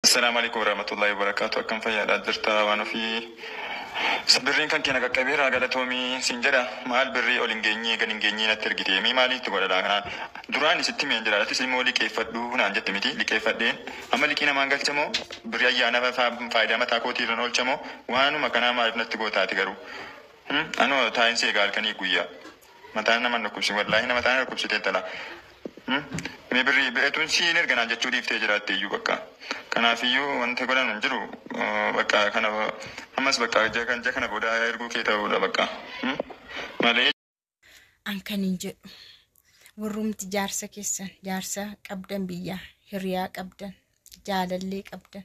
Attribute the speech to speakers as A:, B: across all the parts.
A: Asalamu aleykum waramatulahi wabarakatu akkam fayadha jirta wan ofii birrin kanke na qaqabera galatomi sin jedha mal birri ol hin genye gad hin genye natti ergite me mali itti godha kana durani sitti himen jira atis imo liqefadhu nan jette miti liqefadhe amma liqi naman galcha mo birri ayyana fa fayida mata koti irran olcha mo wanuma kana malif natti gota ati garu anu taen si ega halkani guyya. Mataan nama hin dhukkubsin wallahi mataa na dhukkubsite intala mee birrii beetuun siin erga naan jechuu dhiiftee jiraatte iyyuu bakka kanaafiyyuu wanti godhan hin jiru bakka kana ammas bakka ija kan ija kana booda erguu kee ta'uudha bakka malee
B: an kan hin jedhu warrumti jaarsa keessan jaarsa qabdan biyyaa hiriyaa qabdan jaalallee qabdan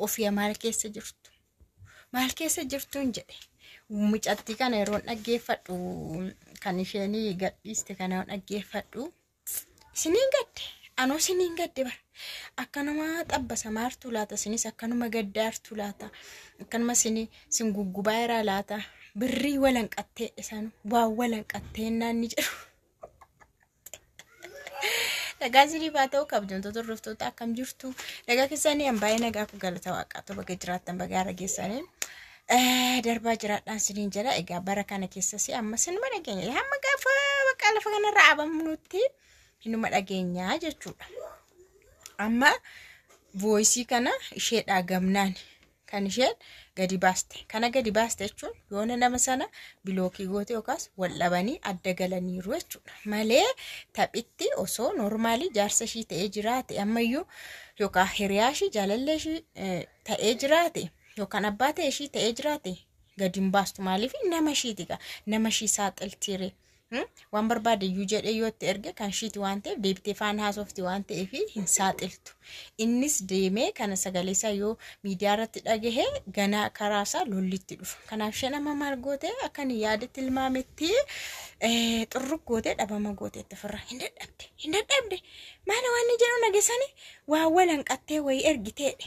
B: Ofiya maal keessa jirtu? Maal keessa jirtuun jedhe. Mucattii kana yeroon dhaggeeffadhu kan isheen gadhiiste kana yeroon dhaggeeffadhu. Isiniin gadde anuu isiniin gadde bara. Akkanuma xabbasa maartuu laata isinis akkanuma gaddaartuu laata akkanuma isin isin guggubaa irraa laata birrii walanqattee dhisan waa walanqattee naanni jedhu. Nagaa isiniif haa ta'u kabajamtoota hordoftoota akkam jirtu. Nagaa keessanii an baay'ee nagaa kun galata waaqaa ta'u baga jiraattan baga haara geessanii. Darbaa jiraadhaan isiniin jedha. Egaa bara kana keessas amma sinuma dhageenya. Hamma gaafa bakka lafa kanarra abamnutti hinuma dhageenya jechuudha. Amma vooyisii kana isheedhaa gamnaan kan isheen gadi baaste kana gadi baaste jechuun yoona nama sana bilookii goote yookaas wal dhabanii adda galaniiru jechuudha malee taphitti osoo noormaalii jaarsa ishii ta'ee jiraate ammayyuu yookaan hiriyaa ishii jaalallee ishii eh, ta'ee jiraate yookaan abbaa ta'e ishii ta'ee jiraate gadi hin baastu maaliif nama ishiiti gaa nama ishii saaxiltiiree. waan barbaade iyyuu jedhee yoo itti erge kan ishiiti waan ta'eef deebitee faan haasofti waan ta'eef hin saaxiltu. Innis deemee kana sagalee isaa yoo miidiyaa irratti dhagahe ganaa karaa isaa lollitti dhufa. Kanaaf isheen amma maal goote akka inni yaadetti ilmaametti xurruk goote dhabama goote itti firra hin dadhabde hin dadhabde maal waan inni jedhu nagesani waa walanqattee wayii ergiteedhe.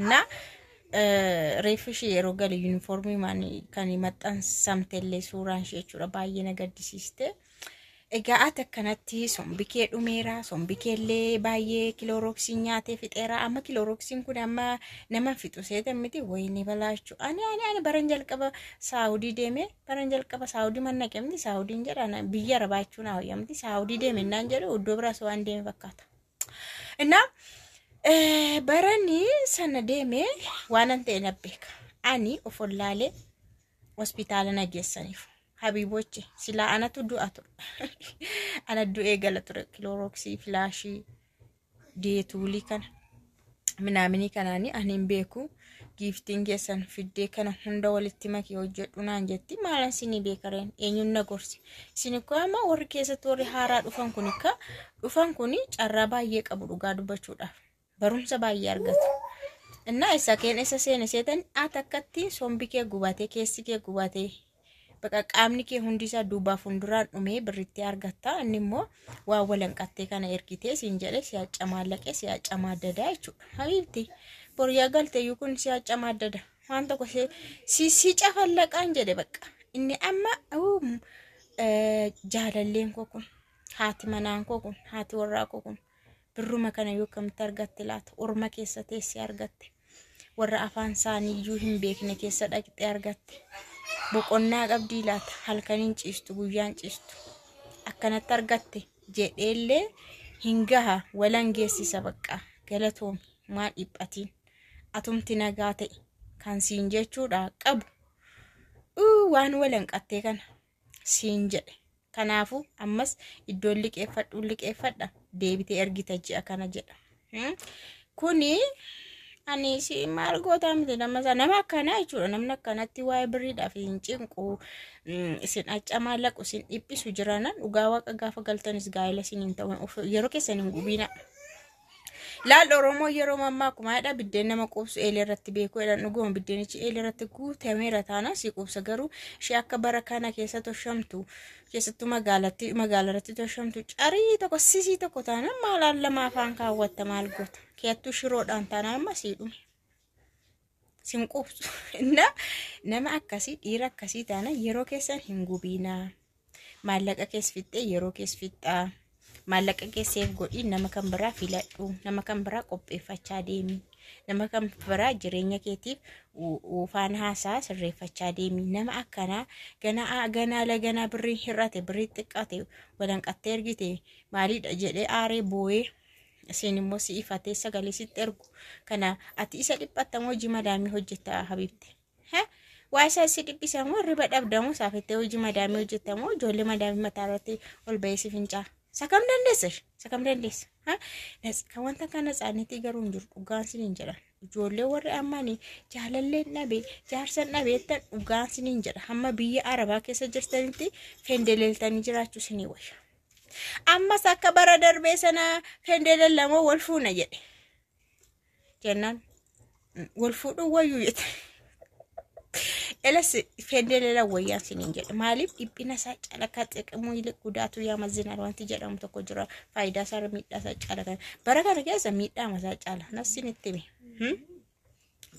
B: እና reeffi ishee yeroo galu yuunifoormii maan kan maxxansamtellee suuraan ishee jechuudha baay'ee na gaddisiiste. Egaa ati akkanatti sombi kee dhumeera sombi keellee baay'ee kiloorooksiin nyaatee fixeera amma kiloorooksiin kun amma nama fixu seetan miti wayinii balaachuu ani ani ani baran jalqaba saawudii deeme baran jalqaba saawudii mannaqe miti saawudiin jedha biyya arabaachuun hawayyamti saawudii deeme innaan jedhu iddoo biraas waan deeme fakkaata. እና baranii sana deemee waanan ta'e na beeka ani of ollaalee hospitaala na geessaniif habiibochi silaa anatu du'a ture ana du'ee gala ture kiloorooksii filaashii deetuulii kana minaaminii kanaanii ani hin beeku giiftiin keessan fiddee kana hunda walitti makii hojjedhu naan jetti maalan isinii beekareen eenyuun na gorse isin ikkoo amma warri keessatti warri haaraa dhufan kun ikka dhufan kun carraa baay'ee qabu dhugaa dubbachuudhaaf barumsa baay'ee argatu. Innaa isa keen isa seene seetan ati akkatti sombi kee gubatee keessi kee gubatee baqa qaamni kee hundi isaa duubaa fuulduraan dhumee birritti argatta inni immoo waa walanqattee kana ergitee siin jedhe si hacca maallaqee si hacca maaddadaa jechuudha habiibti boriyaa galteeyyuu kun si hacca maaddada waan tokko si- si si cafallaqaan jedhe baqa inni amma uu, eh, jaalalleen koo kun haati manaan koo kun haati warraa koo kun birruma kana yoo akkamitti argatte laata orma keessa teessee argatte warra afaan isaanii iyyuu hin beekne keessa dhaqxee argatte. Boqonnaa qabdii laata halkaniin ciistu guyyaan ciistu akkanatti argatte jedheellee hin gaha walan geessisa baqqa galatoomi maa dhiphatiin atumti nagaa ta'e kan siin jechuudha qabu. Uu waan walanqattee kana. siin jedhe kanaafu ammas iddoon liqeeffadhuun liqeeffadha deebitee ergita ji'a kana jedha Hmm? kuni ani si maal gootaa miti nama isaa nama akkanaa jechuudha namni akkanatti waa'ee birriidhaaf hin cinqu Mm, isin accamaa laqu isin dhiphisu jirana dhugaa waaqa gaafa galtanis gaa'ela isin hin ta'u Of- yeroo keessan hin gubiina Laal Oromoo yeroo mammaaku maadha biddeen nama quubsu eelee irratti beeku jedhan dhuguma biddeenichi eelee irratti guutameera taana si quubsa garuu ishee akka bara kana keessa toshamtu keessattuu magaalatti magaala irratti toshamtu carii tokko sisii tokko taana maalaan lama afaan kaawwatta maal goota keeyattuu shiroodhaan taana amma sii dhume. sin quubsu inna nama akkasii dhiira akkasii taana yeroo keessan hin gubiinaa maallaqa kees fixxee yeroo kees fixxaa maallaqa keesseef godhii nama kan biraa filadhu nama kan biraa qopheeffachaa deemi nama kan biraa jireenya keetiif uufaan haasaa sirreeffachaa deemi nama akkanaa ganaa ganaa laganaa birrii hir'ate birrii xiqqate walanqattee ergite maaliidha jedhee aaree booyee Isiin immoo si ifatee sagalee sitti ergu. Kana ati isa dhiphatta moo hojii madaamii hojjetta habibte? He? Waa isaa si dhiphisa moo riba dhabda moo saafettee hojii madaamii hojjetta moo ijoollee madaamii mataa irratti ol ba'ee si fincaa? Isa kam dandeessa? Isa kam dandeessa? Ha? Nas- Kan wanta kana isaaniitii garuu hin jiru dhugaan sin hin jedhan. Ijoollee warri ammanii jaalalleen dhabe jaarsan dhabe jettan dhugaan sin hin jedha. Hamma biyya Arabaa keessa jirtanitti fendeleeltanii jiraachuu sinii wayya. Ammas akka bara darbee sana fendeelan lama wal fuuna jedhe. Jennaan wal fuudhuu wayyuu jette. Elas fendeelan wayyaan siniin jedhe. Maaliif dhiphina isaa calaqqaa xiqimuu illee gudaatu yaa mazzinaan wanti jedhamu tokko jira. Faayidaa isaa miidhaa isaa calaqqaa. Bara kana keessa miidhaa isaa cala. Nafsiin itti hime.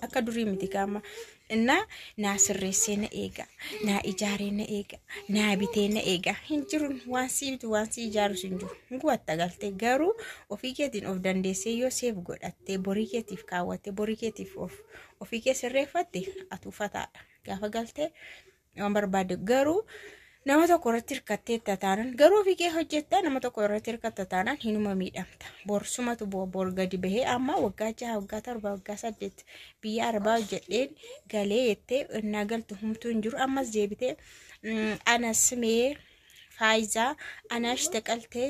B: akka durii miti gaama innaa naa sirreessee na eega naa ijaaree na eega naa bitee na eega hin jiru waan sii bitu waan sii ijaarus hin jiru hin gubatta galtee garuu ofii keetiin of dandeessee yoo seef godhattee borii keetiif kaawwattee borii keetiif of ofii kee sirreeffatte atuufataadha gaafa galtee nama barbaadde garuu nama tokko irratti hirkatteetta taanan garuu ofii kee hojjetta nama tokko irratti hirkatta taanan hinuma miidhamta borsumatu bu'a bor gadi bahee amma waggaa jaha waggaa torba waggaa saddeet biyya arbaa hojjedheen galee jettee innaa galtu humtuu hin jiru ammas deebitee mm, anas mee faayizaa anaash taqaltee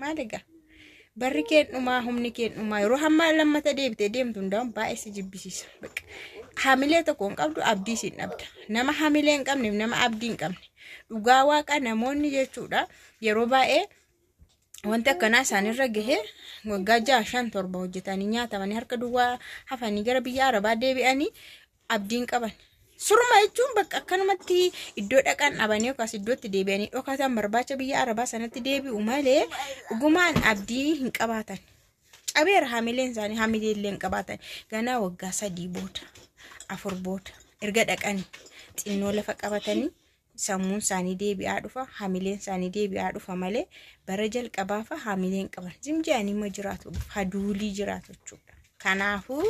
B: Maal egaa? Barri keen dhumaa, humni keen dhumaa. Yeroo hammaa lammata deebitee deemtu hundaa'uun baay'ee si jibbisiisa. Bakka hamilee tokko hin qabdu abdii siin dhabda. Nama hamilee hin qabneef nama abdii hin qabne. Dhugaa waaqa namoonni jechuudha yeroo baay'ee wanti akkanaa isaanirra gahee waggaa jaha shan torba hojjetanii nyaatamanii harka duwwaa hafanii gara biyya arabaa deebi'anii abdiin qaban. Surma jechuun bakka akkanumatti iddoo dhaqan dhabanii yookaas iddootti deebi'anii dhokatan barbaacha biyya arabaa sanatti deebi'u malee dhugumaan abdii hin qabaatan. Cabeera hamileen isaanii hamilee illee hin qabaatan. Ganaa waggaa sadii booda afur booda erga dhaqanii xinnoo lafa qabatanii Sammuun isaanii deebi'aa dhufa, hamileen isaanii deebi'aa dhufa malee bara jalqabaa fa'a hamileen qaban. Zim jedhanii ma jiraatu, haduulii jiraatu jechuudha. Kanaafuu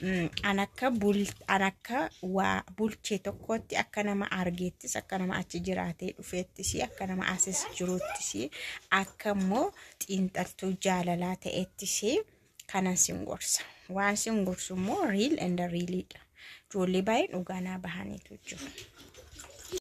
B: mm, an akka bul- an akka waa bulchee tokkootti akka nama argeettis akka nama achi jiraatee dhufeettis akka nama asis jiruuttis akka immoo xiinxaltuu jaalalaa ta'ettis kanan sin gorsa. Waan sin gorsu immoo riil and riiliidha. Ijoollee baay'een dhugaa naa bahaniitu jiru.